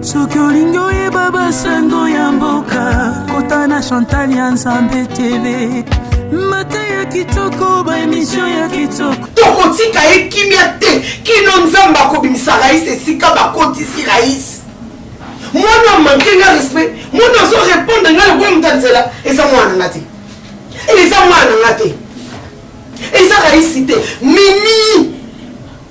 soki olingi oyeba basango ya mboka kota na chantal ya nzambe tv mata ya kitoko baemisio ya kitoko tokotika ye kimia te kino nzambe akobimisa rais esika bakotisi rais mwana manke nga respect mwana azo repondre nga lokola moto ya nzela eza mwana nga te eza mwana nga te eza raisi te mimi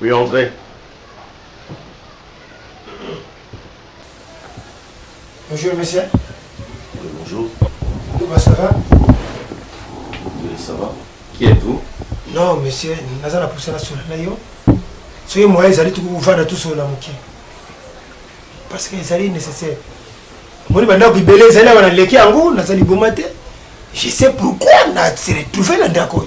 Oui, André. Bonjour, monsieur. Oui, bonjour. Comment ça va Oui, ça va. Qui êtes-vous Non, monsieur, naza na poussana sur la yo. Soyez moi, ils allaient tout vous vendre tout sur la moquette. Parce que ezali nécessaire. Moi, bandako ibele ezali na leki yango, naza liboma te. Je sais pourquoi na se retrouver na ndako.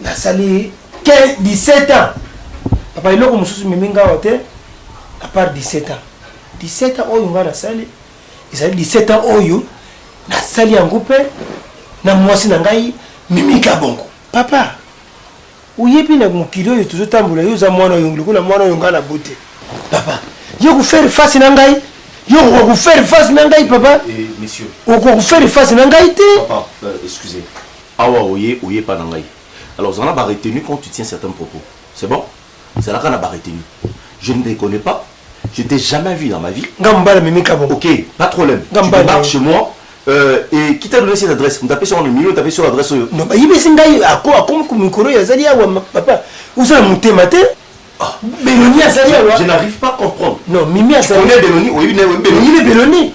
nasali 17 ans papa eloko mosusu memi ngawa te apart 17 ans 17 ans oyo ngai nasali ezali 17 ans oyo nasali yango mpe na mwasi na ngai mimi kabongo papa oyebi na mokili oyo tozotambola yo oza mwana oyo lokola mwana oyo ngai na bote papa yo kofaire face na ngai yo okoka kofaire face na ngai papa eh, okoka kofaire face na ngai te euh, Awa oye, oye epa na ngai. Alors zala na ba retenue quand tu tiens certaines propos. C'est bon? Zalaka na ba retenue. Je ne te connais pas, je t'ai jamais vu dans ma vie. Nga mobali amemi kabongo. Ok, pas de problème. Nga mobali. Tu débarques chez moi. Euh, et qui t'a donné cette adresse Moto apesi yango na milieu, tapesi yo adresse oyo. Non, bayibisi ngai ako akomi ko mikolo ya zali awa ma- papa. Uzala motema te. Ah. Beloni azali awa. Je n'arrive pas à comprendre. Non, Mimi Tu azali. connais Beloni Oyebi naye oyebi Beloni Oyebi Beloni.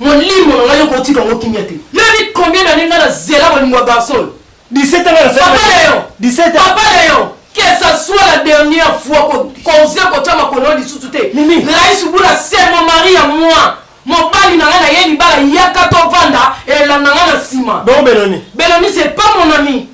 Molimo na ngai oko tika ngo kimia te. Yo yebi combien d'annees nga na zela bolingo ya garçon oyo? 17 ans nga na zela. Papa Leon. 17 ans. Papa Leon. Que ça soit la dernière fois ko koze ko tia makolo lisusu te. Mimi. Rais Bula c'est mon mari à moi. Mobali na nga na ye libala yaka to vanda elanda nga na sima. Donc Beloni. Beloni c'est pas mon ami.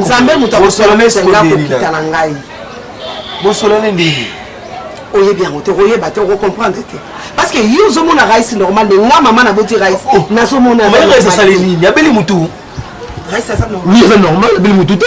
nzambe moto akosolomesa nga kokita na ngai bosolane ndenge oyebi yango te okoyeba te okocomprendre te parce que yo ozomona rais normal nde nga mama naboti rais oh, oh. nazomonaasali nini abeli motu rais aza normal abeli motu te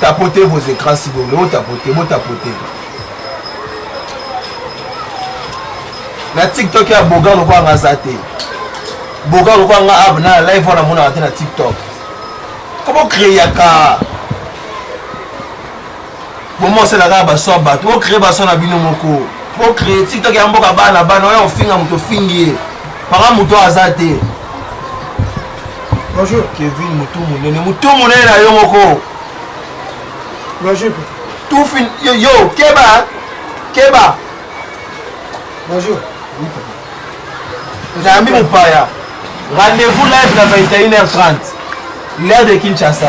Tapotez vos écrans si vous voulez, tapotez, bo tapotez. Na TikTok ya boga lokola nga za te. Boga lokola nga ab na live wana mona te na TikTok. Comment créer ka Bomba osala kaka baso ya bato, bo cree baso na bino moko, bo cree tiktok ya mboka bana bana, oya kofinga moto ofingi ye, paka moto aza te. Bonjour. Kevin motu monene, motu monene na yo moko. Bonjour. Tufin, yo, yo keba, keba. Bonjour. Nayambi mopaya. Rendez-vous live na 21h30. L'heure de Kinshasa.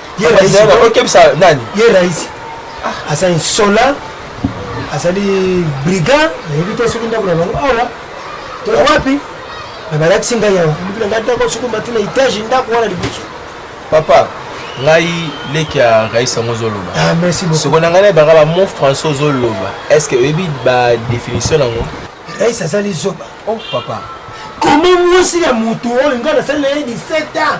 ye raisi aza insola azali brigand nayebi te soki ndako na bango awa to wapi me balakisi ngai awa lobi na ngai ndako soki mati na etage ndako wana liboso papa ngai leki ya rais yango ozoloba ah, soko na ngai nayebaka bamo français ozoloba est ce que oyebi badéfinition nango rais azali zoba oh papa koma mwasi ya moto oyo ngai nasali na ye 17 ans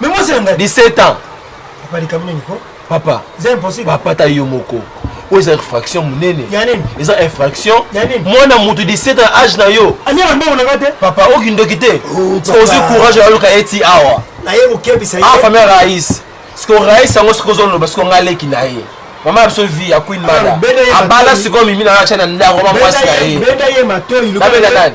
Mais moi c'est nga 17 ans. Papa likambo nini ko? Papa. C'est impossible. Papa ta yo moko. oyo eza infraction monene eza infraction mwana moto 17 ans age na yo papa okindoki te oh, ozwi courage aloka ye ti awa ah, famille rais siko rais yango soki ozoloba siko ngai aleki na ye mama ya biso vi ya queen mada abala sikoyo mimi na yo atya na ndako mwa mwasi na ye nabela nani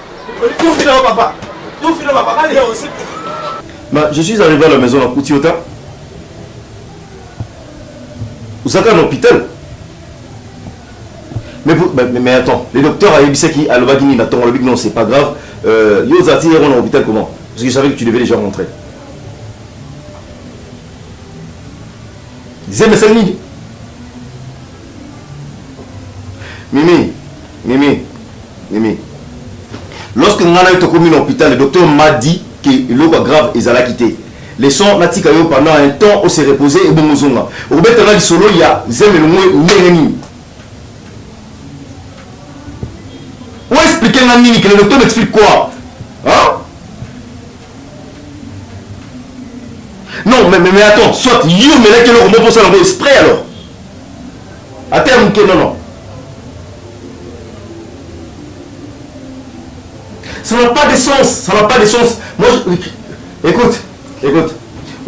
Ma, je suis arrivé à la maison na kuti ota ozaka na hôpital mais, mais, mais attends le docteur ayebisaki alobaki nini na ntongo alobiki non c'est pas grave euh, yo ozalaki yango na hôpital comment parce que je savais que tu devais déjà rentrer zemesali nini Mimi, Mimi, Mimi. Lorsque nga na yo tokomi na hôpital, le docteur m'a dit que eloko ya grave ezalaki te. Leçon natika yo pendant un temps o se reposer et bongo zonga. Obeta nga lisolo ya zeme longwe ndenge nini? O expliquer nga nini que le docteur m'explique quoi? Hein? Non, mais, mais, mais attends, soit yo omelaki eloko moko osala yango esprit alors ata ya moke non non ça n'a pas de sens ça n'a pas de sens moi je... écoute écoute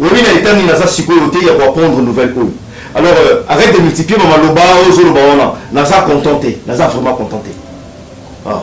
oyebi na etat nini naza sikoyo te ya koapprendre nouvelle oyo alors euh, arrête de multiplier bamaloba ozoloba wana naza content te naza vraiment content te ah.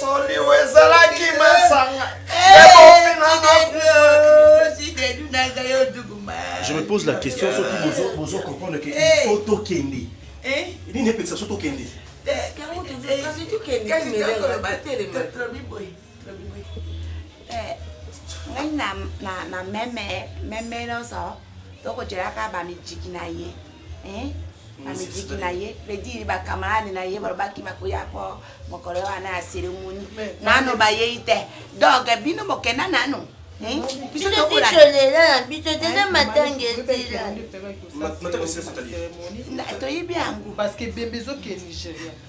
soliwe ezalaki masanga je me pose la question soki bozo comprendre que il faut tokende nini epekisa so tokende Eh, ngai na, na, na meme meme nyonso tokotyelaka bamijiki na ye eh? bamijiki na ye fredi bakamarade na ye balobaki bakoya po mokolo wana ya seremoni nano bayei te donc bino bokenda nano eh? biso tokolela na biso tena matanga ezila toyebi yango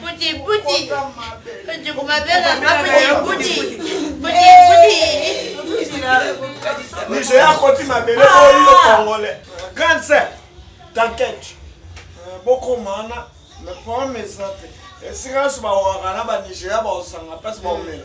Puti puti. Puti kumabela maputi puti. Puti puti. Niger akoti mabele oyo congolais. Grande sœur, t'inquiète. Euh, bokomana mais problème eza te esika nyonso bawaka na banigeria baosanga place baomela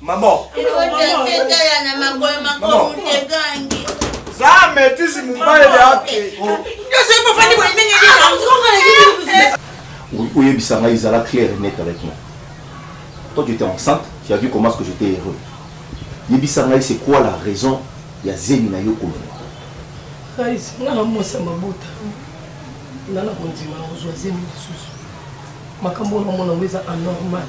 Maman. Zame tisi mumbaye yake. Oyebisa ngai ezala clair et net avec moi. Toi tu étais enceinte, tu as vu comment est-ce que j'étais heureux. Yebisa ngai c'est quoi la raison ya zemi na yo kolona. Kais, nga na mwasi ya mabota. Nga na kondima ozwa zemi lisusu. Makambo wana mona ngo eza anormal.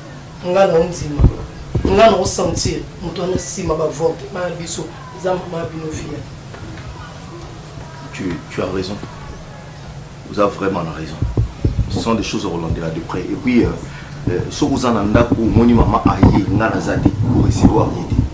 nga na ondima nga na osentir moto wana nsima bavorte bana biso eza mama bino fia tu, tu as raison vous avez vraiment la raison ce sont des choses okolandela de près et puis euh, euh, soki oza na ndako omoni mama aye nga naza te korecevoir ye te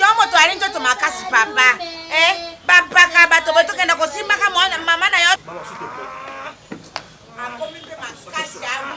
yo moto ali nzoto makasi papa eh, bampaka bato botokenda kosimbaka mama na yo akomi mpe makasi yango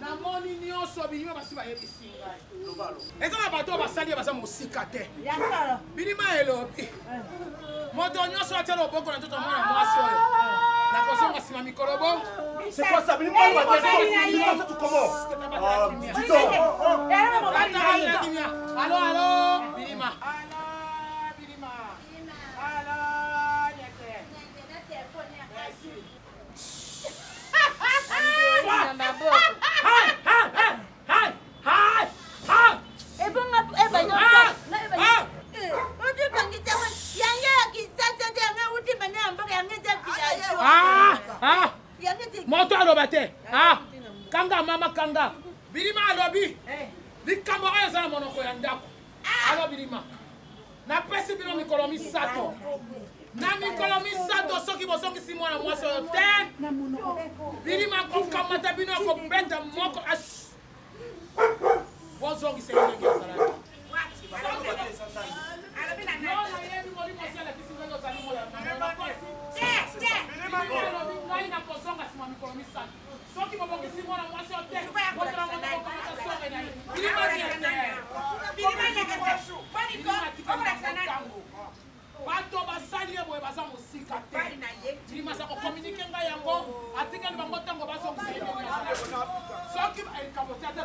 namoni nyonso bilima basi bayebisi ngai eza na bato oyo basali ye baza mosika te bilima elobi moto nyonso atya loboko na nzoto ya mwana mwasi oyo nakozonga nsima mikolo bo alo alo bilima moto aloba te ah, kanga mama kanga bilima alobi eh. likambo oyo eza na monoko ya ndako ah. alo bilima napesi bino mikolo misato na mikolo misato soki bozongisi mwana mwasi oyo te bilima kokamata bino akobeta moko asi bozongisa ye ndenge ezalaki ngai nakozonga nsima mikolo misato soki bobongisi mwana mwasi oyo te botala mwana bokomata sore na ye bilima nyetebanikoakitango bato basali ye boye baza mosika te bilima aza kokominike ngai yango atikali bango ntango bazongisa ye soki likambo te ata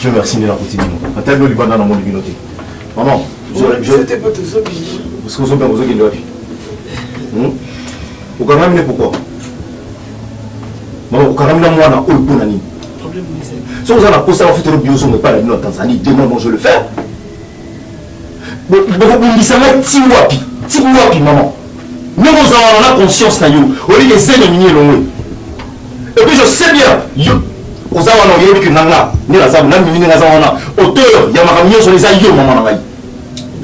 Dieu merci nde nakuti bino ata bino libanda namoni bino te maman soki ozobima ozokende wapi hmm? okangami ne pourkoi mama okangami na mwana oyo mpo na nini soki oza na posa bafutelo biozongo epai na bino na tanzanie demain bon je le faire bakobundisa ngai ti wapi ti wapi mama ndenge ozalaka na conscience na yo oyebi ke zemi nini elongwe epuis je sais bien yo oza wana oyebi ke nanga nde naza na mimi ndenge aza wana auteur ya makambo nyonso eza yo mama na ngai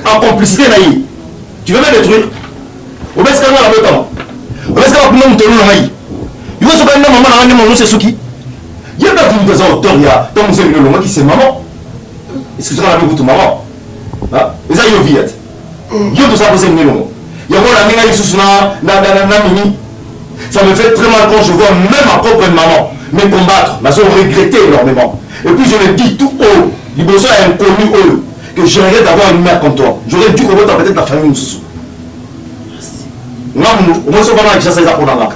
en complicité na ye tu veux me détruire obesika ngai na botama obesika bakunda motelu na ngai yo soka nde mama na ngai nde mama nyonso esuki ye mpe akomi mpenza auteur ya ntango zemi elongwaki se mama excuse-moi nabi kutu maman eza yo via te mm. yo toza kose ngelongo yango olandi ngai lisusu na mimi ça me fait très mal quand je vois même ma propre maman me combattre nazo regrette énormément et puis je le dis tout haut liboso ya inconnu oyo que je regrette d'avoir une mère comme toi j'aurais dû kobota peut-être na famille mosusu nga munu omoni soki bana na kinshasa eza mpo na nga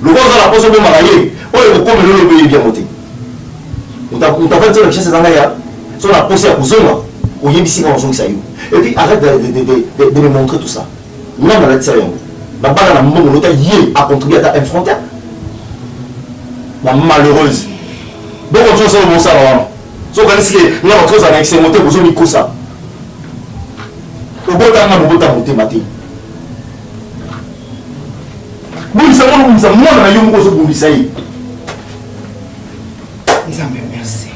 lokola oza na mposo obomaka ye oyo ekokomela olobi oyebi yango te Utavandi tena Kinshasa ezanga ya so na posa ya kozonga oyebisi nga ozongisa yo et puis arrête de, de, de, de, de me montrer tout ça nga nalatisa yo yango babala na mbongo lota ye acontribue ata infrontaire na malheureuse bongo tozosala mosala wana sokanisi ke nga bato ozala na esengo te bozomikosa obotanga nga bobota motema te bundisa ngo nobundisa mwana na yo moko ozobundisa ye nzambe merci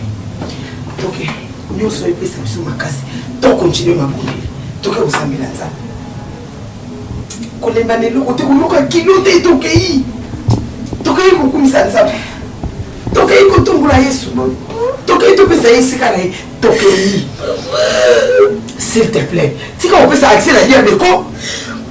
ok nyonso oyo epesa biso makasi to continue mabondeli toke kosambela nzambe kolemba na eloko te koyoka kilo te tokei tokei kokumisa nzambe tokei kotombola yesu tokei topesa ye esika na ye tokei s'il te plaît tika kopesa accès na diable ko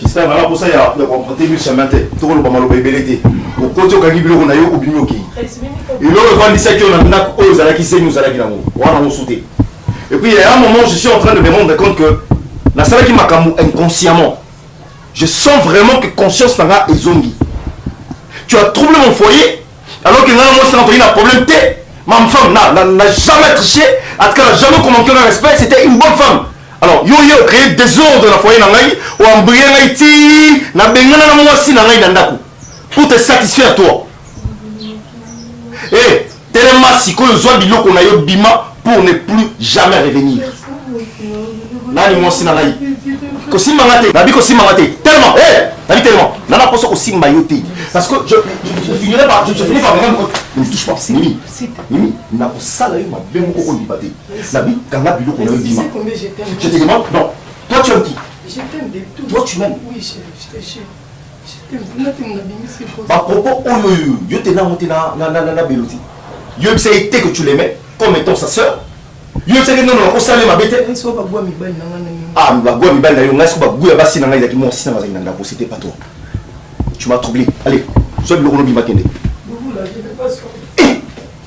J'espère vraiment pour ça ya ya comprendre bi chemin te toko loba maloba ebele te okoti okangi biloko na yo obimi okeyi eloko efandisaki yo na ndako oyo ozalaki zemi ozalaki nango wana mosu te et puis ya un moment je suis en train de me rendre compte que nasalaki makambo inconsciemment je sens vraiment que conscience na nga ezongi tu as troublé mon foyer alors que nga na mwasi na toyi na problème te ma femme na na na jamais triché en tout cas na jamais commenté na respect c'était une bonne femme alors yo ye ocréer désordre na foyer na ngai oambrie ngai ti nabengana na mwasi na ngai na ndako pour te satisfaire toi e eh, telema sikoyo zwa biloko na yo bima pour ne plus jamais revenir nani mwasi na ngai kosimba nga te nabi kosimba nga te tellement eh nabi tellement na na poso kosimba yo te parce que je je finirai par je finis par même ne me touche pas mimi mimi na kosala yo mabe moko ko liba te nabi kanga biloko na yo bima je te demande non toi tu aimes qui je t'aime de tout toi tu m'aimes oui je je Ba propos oyo oyo yo te nango te na na na na Beloti. Yo yebisa ye te que tu l'aimais comme étant sa sœur. Yo yebisa ye non non nakosala ye mabe te. Ah mais bagua mibali na yo ngai soki bagua ya basi na ngai ezalaki mwasi na ngai azali na ndako c'était pas toi. Tu m'as troublé. Allez, sois biloko no bima kende.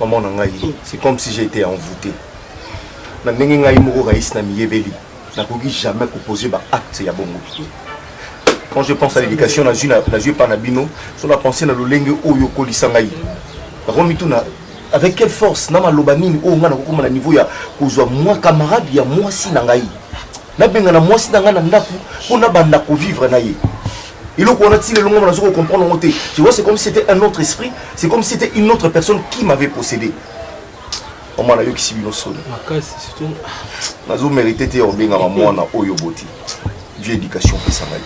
maman na ngai c'est comme si j'ai été envoûté na ndenge ngai moko rais na miyebeli nakoki jamais kopose baacte ya bongo quand je pense à l'éducation nazwi nazwi epai na bino so na pense na lolenge oyo okolisa ngai nakomituna avec quelle force na maloba nini oyo ngai nakokoma na niveau ya kozwa mwa camarade ya mwasi na ngai nabengana mwasi na ngai na ndako mpo nabanda kovivre na ye eloko wana ti lelo ngai nazo kocomprendre yango te je vois c'est comme si c'était un autre esprit c'est comme si c'était une autre personne qui m'avait possédé mama nayokisi bino soni nazo mérite te ya kobengama mwana oyo boti vie éducation opesa ngai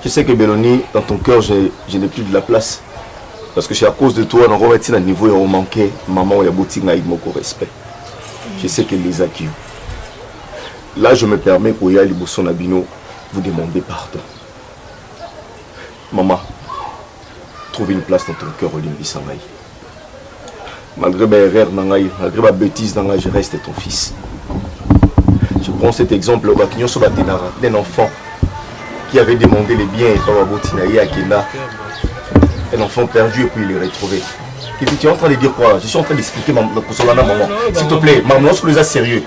je sais que beloni dans ton cœur je, je n'ai plus de la place parce que c'est à cause de toi nakoma ti na niveau ya omanke mama oyo aboti ngai moko respect je sais que lezaki yo Là je me permets koya liboso na bino vous demander pardon maman trouve une place dans ton cœur olimbisa ngai malgré ba erreur na ngai malgré ba bêtise na ngai je reste ton fils je prends cet exemple bato nyonso batenaka d'un enfant qui avait demandé les biens epa baboti na ye akenda un enfant perdu et puis il est retrouvé Kevin, tu es en train de dire quoi Je suis en train d'expliquer ma, ma, ma maman. S'il te plaît, maman, lorsque les a sérieux,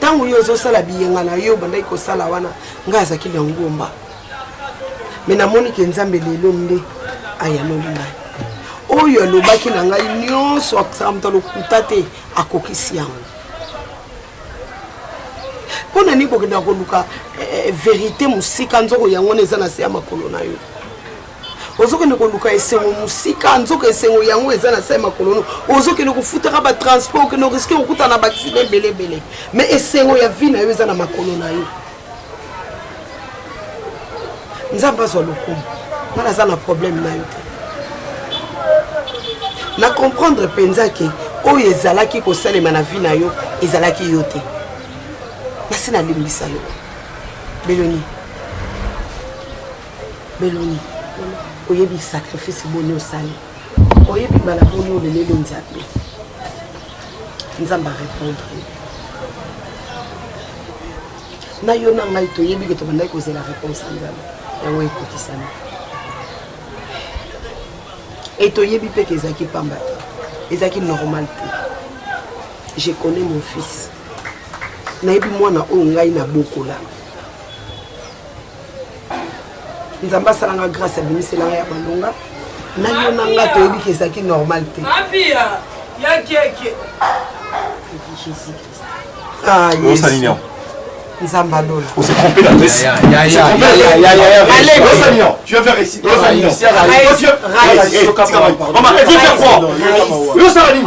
Tango yo ozo sala biyenga na yo obandaki ko sala wana nga azaki na ngomba. Mais na moni ke Nzambe lelo nde ayanoli ngai. Oyo alobaki na ngai nyonso akisaka moto lokuta te akokisi yango. Mpo na nini kokenda koluka eh, eh, verite mosika nzoko yango na eza na se ya makolo na yo? ozokende koluka esengo mosika nzoka esengo yango eza na sai makolono ozokende kofutaka batransport okende oriske kokuta na baksida ebele ebele mais esengo ya vi na yo eza na makolo na yo nzambe azwa lokumu ngai naza na problème na yo te na comprendre mpenza ke oyo ezalaki kosalema na vi na yo ezalaki yo te nasi nalimbisa yo beloni Beloni, oyebi sacrifice boni osali? Oyebi mbala boni oleleli Nzambe? Nzambe a répondre. Na yo na ngai toyebi ke tobandaki kozela réponse ya Nzambe. Yango ekotisami. Et toyebi mpe ke ezalaki pamba te. Ezalaki normal te. Je connais mon fils. Nayebi mwana oyo ngai nabokola. nzambe asala nga grâce abimisela nga ya malonga nayo na nga toyebi ke ezalaki normal te ah, nzambe alola osala nini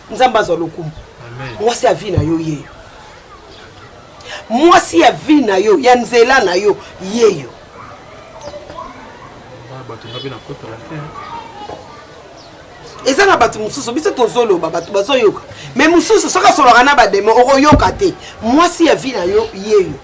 nzambe azwa lokumu mwasi ya vie na yo yeyo mwasi ya vie na yo ya nzela na yo yeyo eza na bato mosusu biso tozoloba bato bazoyoka me mosusu soki asolaka na bademo okoyoka te mwasi ya vie na yo yeyo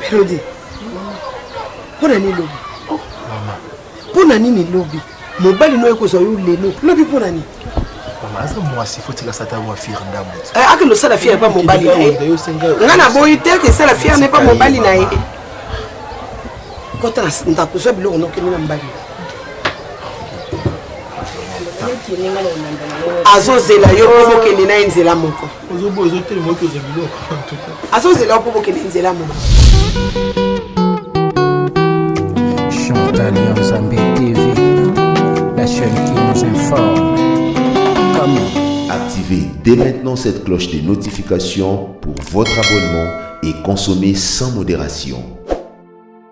Melody, mpo na nini lobi? Oh, mama. Mpo na nini lobi? Mobali noye kozwa yo lelo. Lobi mpo na nini? Mama, aza mwasi faut tika sata wa fir ndamu. Eh, ake lo sala fir pa mobali na ye. Nga na boyi te ke sala fir ne pa mobali na ye. Kota na ndako zwa biloko noke na mbali. Azozela yo mpo mokende na ye nzela moko. ozoboya ozotelema oki oza biloko azozela mpo bokende nzela moko chantal ya nzambe tv la chaîne qui nous informe kama activez dès maintenant cette cloche de notification pour votre abonnement et consommez sans modération